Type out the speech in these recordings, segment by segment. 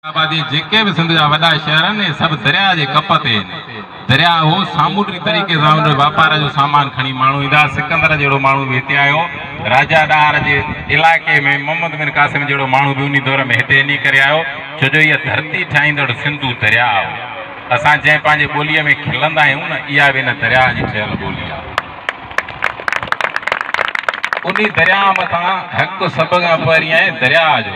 آبادي جيڪي به سنڌ جا وڏا شهر آهن اهي سڀ درياء جي ڪپ تي آهن. درياء هو سامونڊي طريقي سان ان واپار جو سامان کڻي ماڻهو ايندا هئا. سڪندر جهڙو ماڻهو به هتي آيو. راجا ڏاهر جي علائقي ۾ محمد بن قاسم جهڙو ماڻهو به انهي دور ۾ هتي انهي ڪري آيو ڇو جو اها ڌرتي ٺاهيندڙ سنڌو درياء هو. اسان جنهن پنهنجي ٻوليء ۾ کلندا آهيون نه اها به ان درياء جي ٺهيل ٻولي آهي. انهي درياء مٿان حق سڀ کان پهرين آهي درياء جو.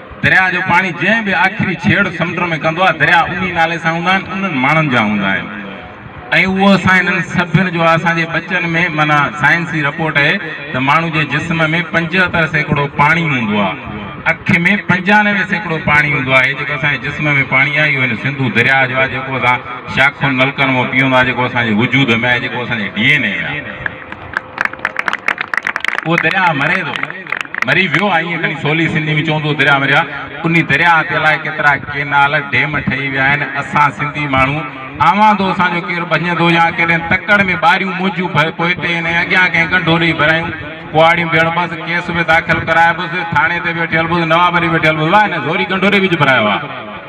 درياء جو پاڻي جنهن به آخري ڇيڙ سمنڊ ۾ ڪندو آهي، درياء انهي نالي سان هوندا آهن، انهن ماڻهن جا هوندا آهن ۽ اهو اسان هنن سڀن جو آهي. اسان جي ٻچن ۾ معنيٰ سائنسي رپورٽ اهي ته ماڻهو جي جسم ۾ پنجهتر سيڪڙو پاڻي هوندو آهي، اک ۾ پنجانوي سيڪڙو پاڻي هوندو آهي، هي جيڪو اسان جي جسم ۾ پاڻي آهي اهو هن سنڌو درياء جو آهي جيڪو اسان شاخن نلڪن مان پيئون ٿا، جيڪو اسان جي وجود ۾ آهي، جيڪو اسان جي ڊي اين اي ۾ آهي. اهو درياهه مري ٿو، مري ويو آهي ائين کڻي سولي سنڌي ۾ چون ٿو درياهه مريو آهي. انهي درياهه تي الائي ڪيترا ڪينال، ڊيم ٺهي ويا آهن. اسان سنڌي ماڻهو آوندو اسان جو ڪير ڀڃندو يا ڪيڏن تڪڙ ۾ ٻاريون منهنجون پوئتي ۽ اڳيان ڪنهن ڳنڍو ڏئي ڀرايون ڪهاڙيون به هڻبس، ڪيس به داخل ڪرائبس، ٿاڻي تي به وٺي هلبس، نوابري به وٺي هلبس، واهه هن زوري ڳنڍو ڏئي وچ ڀرايو آهي.